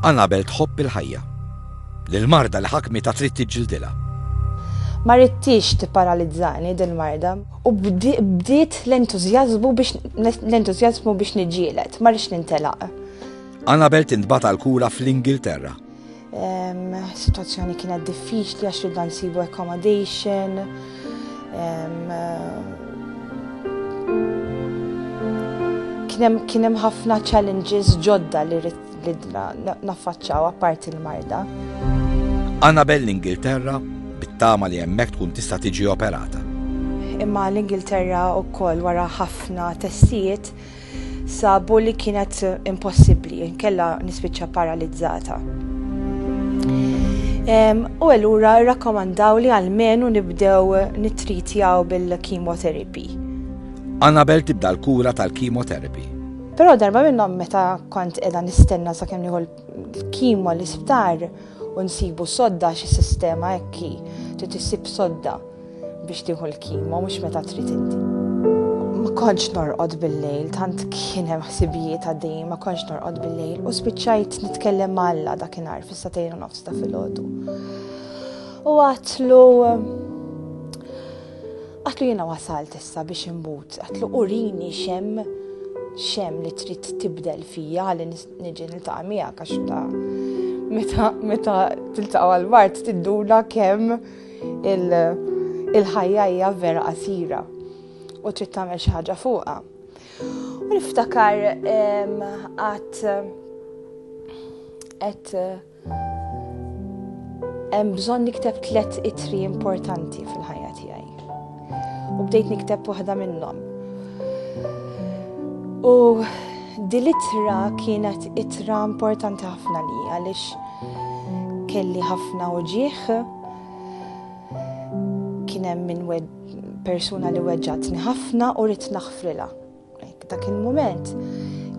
Anabel tħobb il-ħajja. L-marda li ħakmi ta' trid tiġġildilha. Ma rittix tipparalizzani dil-marda. U bdiet l-entużjażmu biex l-entużjażmu biex niġġieled, ma rridx nintelaq. Anabel tintbata l-kura fl-Ingilterra. Situazzjoni kienet diffiċli għax ridna nsibu accommodation. Kien hemm ħafna challenges ġodda li ridna naffaċċaw apparti l-marda. Annabel l-Ingilterra bit-tama li hemmhekk tkun tista' tiġi operata. Imma l-Ingilterra wkoll wara ħafna testijiet sabu li kienet impossibbli, inkella nispiċċa paralizzata. U allura rakkomandaw li għalmenu nibdew nitritjaw bil-chemotherapy. Annabel tibda l-kura tal-chemotherapy. Però darba minnhom meta kont qiegħda nistenna sakemm nieħu Kima l-isptar u nsibu sodda xi sistema ekki trid issib sodda biex tieħu l-kima mhux meta trid inti. Ma kontx norqod bil-lejl, tant kien hemm ħsibijiet għaddejjin ma kontx norqod bil-lejl u spiċċajt nitkellem ma' Alla dakinhar fis-satejn u nofs ta' filgħodu. U għatlu għatlu jiena wasalt issa biex imbut, għatlu urini xem xem li trid tibdel fija li Niġi niltaqa' miegħek għax ta' meta meta tiltaqa' għall-mart tidduna kemm il-ħajja hija vera qasira u trid tagħmel xi ħaġa fuqha. U niftakar qatt qed Hemm bżonn nikteb tliet itri importanti fil-ħajja tiegħi. U bdejt nikteb waħda minnhom. U dil-itra kienet itra importanti ħafna li għaliex kelli ħafna uġieħ kien hemm minn persuna li weġġatni ħafna u rrid naħfrilha. Dak il-mument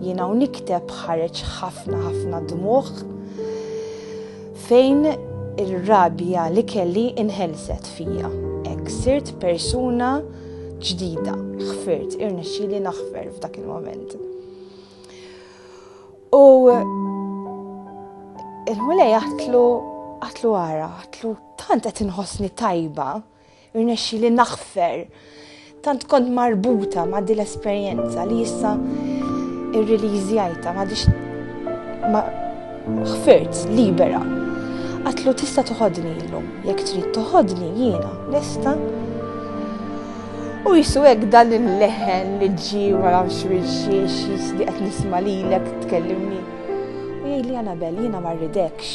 jiena u nikteb ħareġ ħafna ħafna dmuħ fejn ir-rabja li kelli inħelset fija. Ek sirt persuna ġdida, ħfirt, irnexxili naħfer f'dak il-moment. U il-mulej għatlu għatlu għara, għatlu tant qed inħossni tajba, Irnexxi li naħfer. Tant kont marbuta ma' din l-esperjenza li issa irrilizjajta ma' dix ma' ħfirt libera. Għatlu tista' toħodni illum, jekk trid toħodni jiena lesta. U jisu hekk dan il-leħen li ġi wara xwirxiex jisni qed nisma' lilek tkellimni. U jgħidli Anabel jiena ma rridekx.